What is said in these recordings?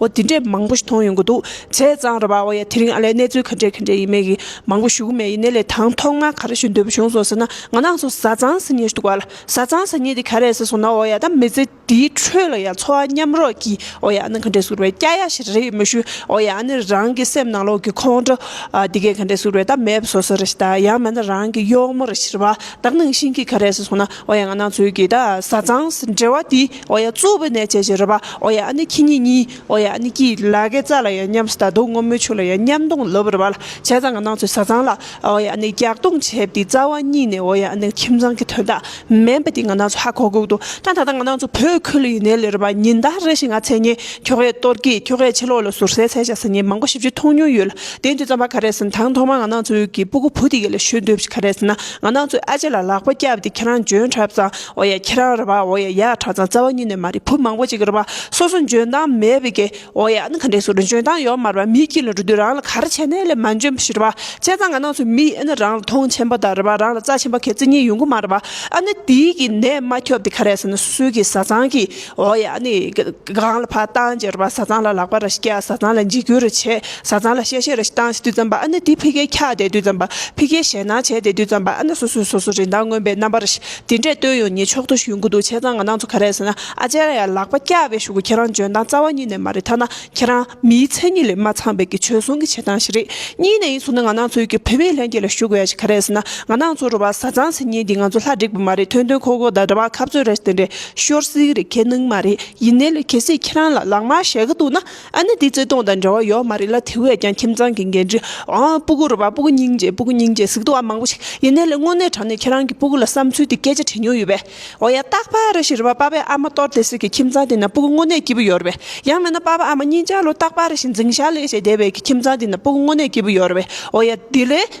འོ་དེ་འདྲས་མང་པོ་ཞིག་མཐོང་ཡོང་གི་འདུག་བྱས་ཙང་ར་བ་བ་ཡ་དེ་རིང་ཨ་ལས་གནས་ཚུལ་ག་འདྲས་ག་འདྲས་ཡིན་མེད་ཀི་མང་པོ་ཞུ་གི་མེད་ཡིན་ནའི་ལས་དང་ཐོག་མ་ག་རེ་ཞུ་འདོད་པ་བྱུང་སོང་ཟེར་ན་ང་ནང་སོ་བཟའ་ཚང་ཟེར་ཉེ་ཞུ་འདུག་བ་ལ་བཟའ་ཚང་ཟེར་ཉེ་དེ་ག་རེ་ཟེར་སོང་ན་འོ་ཡ་ད་མི་ཚེ་འདིའི་ཁྲོད་ལ་ཡང་འཚོ་བ་མཉམ་རོགས་ཀི་འོ་ཡ་ནི་ག་འདྲས་ཟུར་བའི་སྐྱ་ཡ་ཞིག་རེད་མི་ཞུ་འོ་ཡ་ནི་རང་གི་སེམས་ནང་ལོག་གི་ཁོང་ཁྲོ་དེ་གས་ག་འདྲས་ཟུར་བའི་ད་མེད་པ་ཟོ་ས་རེད་ཞེ་ད་ཡང་མེད་ན་རང་གི་གཡོག་མོ་རེད་ཞེ་ར་བ་ད་ནང་བཞིན་གི་ག་རེ་ཟེར་སོང་ན་འོ་ཡ་ང་ནང་ཚོས་ཀི་ད་བཟའ་ཚང་ཟེར་འབྲེལ་བ་དེ། ཨོ་ཡ་གཙོ་བོའི་གནས་བྱས་ཞེས་རོལ་པ། ཨོ་ཡ་ཨ་ནི་ཁྱི་ཉིད་གཉིས། ཨོ་ཡ་ཨ་ནི་སྐྱིད། ལ་ཀའི་རྩ་ལ་ཡང་མཉམ་སྟ་གདུང་སྔོན་མོའི་ཆུ་ལ་ཡང་མཉམ་གདུང་ལུབ་རོལ་པ། བྱས་ཙང་གི་ནང་ཚོས་ཟ་ཙང་ལ། ཨོ་ཡ་ཨ་ནི་རྒྱག་གདུང་བྱས་པ་དེའི་རྩ་བ་གཉིས་ནས་ཨོ་ཡ་ཨ་ནི་ཁྱིམ་ཚང་གི་དོན་དག་མིན་པ་དེ་ང་ནང་ཚོས་ཧ་གོ་གི་འདུག་ཀྱང་ད་ལྟ་ང་ནང་ཚོ་བོད་ཁུལ་ལ་ཡིན་ནའི་ལས་རོལ་པ་ཉིན་ལྟར་རེ་ཞིག་ང་མཚན་ཉིད་ཁྱོ་གས་གཏོར་སྐྱིད་ཁྱོ་གས་ཕྱི་ལོག་ལ་ཟུར་ཟའི་ཚལ་བཞག་ཟིན་ཉིན་མང་པོ་ཞིབ་ཆུ་འཐུང་མྱོང་ཡོད་ལ་དེའི་དུས་རྩམ་པ་ག་རེ་ཟིན་དང་ཐོག་མར་ང་ནང་ཚོའི་ཡུལ་གྱི་སྤུ་གུ་བུ་དེ་ག་ལ་ཞུས་འདོད་ག་རེ་ཟིན་ན་ང་ནང་ཚོས་ཨ་ཅེ་ལ་ལག་པ་བཀྱགས་པ་དེ་ཁྱེད་རང་འཇོན་གྲབས་ཙང་འོ་ཡ་ཁྱེད་རང་རེད་པའོ་ཡ་ཡ་གྲྭ་ཚང་རྩ་བ་ཉིད་ནས་མ་རེད་བུ་མང་པོ་ཅིག་རེད་པ་སོ་སོ་འཇོན་ཐང་མེད་པའི་གི་འོ་ཡ་ཨན་ག་འདྲས་སུ་རེད་འཇོན་ཐང་ཡོད་མ་རེད་པ་མིའི་སྐྱིད་ལ་འགྲོ་དུས་རང་ལ་ག་རེ་བྱས་ནས་ལས་མ་འཇོན་པ་ཞིག་རེད་པ་བྱས་ཙང་ང་ནང་ཚོ་མི་ཡིན་ཨན་རང་ལ་ཐོང་ཆེན་པོ་དང་རེད་པ་རང་ལ་རྩ་ཆེན་པོ་གལ་ཙི་གཉིས་ཡོང་གི་མ་རེད་པ་ཨན་དེའི་གི་ནད་མ་ཁྱོབ་དེ་ག་རེ་ཟེར་ན་སོ་སོའི་གི་བཟའ་ཚང་གི་འོ་ཡ་ཨན་གང་ལ་ཕ་བཏང་རྗེས་རེད་པ་བཟའ་ཚང་ལ་ལག་པ་ར་ཞིག་བཀྱག་བཟའ་ཚང་ལ་འཇིགས་སྐུལ་ར་བྱས་བཟའ་ཚང་ལ་གཤེ་གཤེ་ར་ཞིག་བཏང་བྱས་དུས་ཙམ་པ་ཨན་དེ་ཕི་གས་འཁྱགས་བསྡད་དུས་ཙམ་པ་ཕི་གས་ཞེད་སྣང་བྱས་བསྡད་དུས་ཙམ་པ་ཨན་སོ་སོས་སོ་སོ་རིན་ཐང་མངོན་པའི་རྣམ་པ་ར་ཞིག། དེ་འདྲས་སྟོད་ཡོང་ཉེ་ཕྱོགས་དུ་བཞུད་དགོས་འདུག་བྱས་ཙང་ང་ནང་ཚོ་ག་རེད་ཟེར་ན་ཨ་ཅེ་ར་ཡ་ལག་པ་བཀྱགས་པའི་ཞུགས་ཁྱེད་རང་འཇོན་ཐང་རྩ་བ་ཉིད་ནས་མ་རེད་ཐ་ན་ཁྱེད་རང་མིའི་མཚན་ཉིད་ལས་མ་ཚང་བའི་གི་བྱོལ་སོང་གི་བྱེད་སྟངས་ཞིག་རེད་གཉིས་ནས་ཡིན་ཟུར་ན་ང་ནང་ཚོའི་གི་བོད་མིའི་ལྷན་རྒྱས་ལ་ཞུགས་དགོས་ཡ་ཞིག་ག་རེད་ཟེར་ན་ང་ནང་ཚོ་རུ་བ་ཟ་ཚང་ཟེར་ཉིན་འདི་ང་ཚོ་ལྷ་འགྲིག་པ་མ་རེད་ཐོན་ཐོན་ཁོག་ཁོག་དང་འདྲ་བ་ཁ་བཙོས་ར་ཞིག་དེ་འདྲས་ཤོར་སིག་རེད་ཁྱེད་ནང་མ་རེད་ཡིན་ནའི་ལས་གལ་སྲིད་ཁྱེད་རང་ལ་ལག་དམར་ཞེ་དགའ་འདུག་ན། ཨ་ནི་དེ་རྩོད་སྟོང་དང་འབྲེལ་བ་ཡོད་མ་རེད་ལ་དེ་བས་ཀྱང་ཁྱིམ་ཚང་གི་འགན་འཁྲི་འོང་ཨ་སྤུ་གུ་རུ་བ་སྤུ་གུ་སྙིང་རྗེ་སྤུ་གུ་སྙིང་རྗེ་ཟིག་ཏུ་བ་མང་པོ་ཞིག་ཡིན་ནའི་ལེ་དངོས་གནས་དྲང་ནས་ཁྱེད་རང་གི་སྤུ་གུ་ལ་བསམ་ཚུལ་དེ་སྐད་ཆ་དྲིས་མྱོང་ཡོད་པས་འོ་ཡ་སྟག་ཕ་ར་ཞིག་རུ་བ་པ་པའི་ཨ་མ་གཏོར་བདེ་ཟིག་གི་ཁྱིམ་ཚང་དེ་ན་སྤུ་གུ་དངོས་གནས་སྐྱིད་པོ་ཡོད་རུ་བས་ཡང་མེད་ན་པ་པ་ཨ་མ་གཉིས་ཆ་ལོ་སྟག་ཕ་ར་ཞིག་འཛིང་ཞག་ལས་བྱས་བསྡད་བས་ཀྱི་ཁྱིམ་ཚང་དེ་ན་སྤུ་གུ་དངོས་གནས་སྐྱིད་པོ་ཡོད་རུ་བས་འོ་ཡ་དེ་ལས།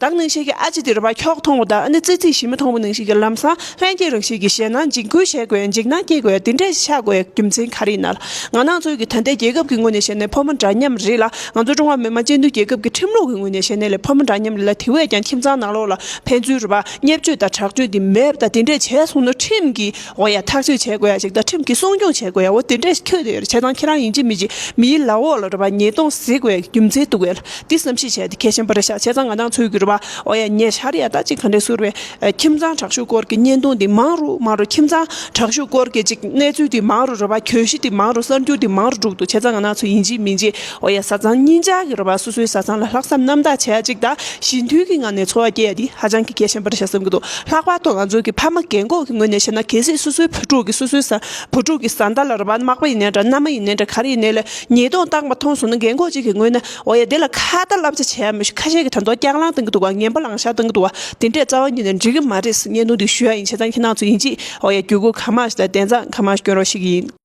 བདག་ནང་བཞིན་གྱི་ཨ་ཅེ་འདིར་བ་ཁྱོག་མཐོང་བ་དང་ཨ་ནི་ཙི་ཙི་ཞིམ་མོ་མཐོང་བ་ནང་བཞིན་གྱི་ལམ་སང་ལྷན་སྐྱེས་རང་བཞིན་གྱི་ཞེད་སྣང་འཇིགས་སྐུལ་བྱེད་དགོས་འཇིགས་སྣང་སྐྱེས་དགོས་དེ་འདྲའི་ཆགས་དགོས་རྒྱུ་མཚན་ག་རེ་ན། ང་ནང་ཚོས་ཀྱི་ད་ལྟའི་རྒྱལ་ཁབ་ཀྱི་དངོས་གནས་ཞེ་གནས་ཕོ་མོ་འདྲ་མཉམ་རེད་ལ་ང་ཚོ་ཀྲུང་ཧྭ་མི་དམངས་སྤྱི་མཐུན་རྒྱལ་ཁབ་ཀྱི་ཁྲིམས་ལུགས་ཀྱི་དངོས་གནས་ཞེ་གནས་ལས་ཕོ་མོ་འདྲ་མཉམ་རེད་ལ་དེ་བས་ཀྱང་ཁྱིམ་ཚང་ནང་ལོགས་ལ་ཕན་ཚུན་རུ་བ་བརྙས་བཅོས་དང་དྲག་སྤྱོད་འདི་མེད་པ་དང་དེ་འདྲས་བྱས་སོང་ན་ཁྲིམས་ཀྱི་འོ་ཡ་ཐག་གཅོད་བྱེད་དགོས་ཡ་ཅིག་ད་ཁྲིམས་ཀྱིས་སྲུང་སྐྱོང་བྱེད་དགོས་ཡ་འོ་དེ་འདྲས་ཁྱོད་དེ་བྱས་ཙང་ཁྱེད་རང་ཡིན་གཅིག་མིན་གཅིག་མིའི་ལག་འོག་ལ་རུ་བ་ཉེས་རྡུང་གཟིགས་དགོས་ཡ་རྒྱུ་མཚན་བཏུ་དགོས་ལ་འདི་བསམ་ཤེས་བྱས་ཏེ་གལ་ཆེན་པ་རེ་བཞག་བྱས་ཙང་ང་དང་ཚུལ་གྱི་རུ་བ་འོ་ཡ་ཉེ་ཆར་ཡ་ད་ཅིག་ག་འདྲས་ཟུར་བའི་ཁྱིམ་ཚང་དྲག་ཤུགས་སྐོར་གྱི་བརྙན་ཐུང་འདི་མང་རུ་མང་རུ་ཁྱིམ་ཚང་དྲག་ཤུགས་སྐོར་གྱི་ཅིག་གནས་ཚུལ་འདི་མང་རུ་རུ་བ་གྱོད་གཞི་འདི་མང་རུ་གསར་འགྱུར་འདི་མང་རུ་དྲུག་ཏུ་བྱས་ཙང་ང་དང་ཚུལ་ཡིན་གཅིག་མིན་གཅིག། ཨོ་ཡ་བཟའ་ཚང་གཉིས་ཅག་གི་རོ་པ་སོ་སོའི་བཟའ་ཚང་ལ་ལྷག་བསམ་རྣམ་དག་བྱེད་ཅིག་དང་ཞི་མཐུན་གྱི་ངང་ནས་འཚོ་བ་སྐྱེལ་ཡ་འདི་ཧ་ཅང་གི་གལ་ཆེན་པར་བྱ་བསམ་གྱི་འདུག་ལྷག་པར་དུ་ང་ཚོ་གི་ཕ་མ་རྒན་འཁོགས་ཀྱི་ངོས་ནས་བཤད་ན་གལ་སྲིད་སོ་སོའི་བུ་ཕྲུག་གི་སོ་སོའི་བཟའ་བུ་ཕྲུག་གི་བཟའ་ཟླ་ལ་རོ་པ་མག་པ་ཡིན་ནའི་འདྲ་མནའ་མ་ཡིན་ནའི་འདྲ་ག་རེ་ཡིན་ནའི་ལ་ཉེས་རྡུང་བཏང་པ་མཐོང་སོང་ན་རྒན་འཁོགས་གཅིག་གི་ངོས་ནས་ཨོ་ཡ་འདི་ལ་ཁ་བརྡ་བསླབ་བྱ་བྱས་ཡ་མི་ཤུ་ཁ་ཤས་ཀྱི་དྲ་འདོགས་རྐྱང་བླངས་གཏང་གི་འདུག་བ་ངན་པ་ལང་ཤག་གཏང་གི་འདུག་བ་དེ་འདྲས་རྩ་བ་ཉིད་ནས་འགྲིག་གི་མ་རེད་ཟེར་བརྙན་ཐུང་འདི་ཞུ་ཡ་ཡིན་བྱས་ཙང་ཁྱེད་རྣམས་ཚོ་ཡིན་གཅིག་ཨོ་ཡ་རྒྱུ་གུ་གང་མང་ཞིག་དང་དན་རྩ་གང་མང་ཞིག་སྐྱོན་རོགས་ཤིག་ཡིན།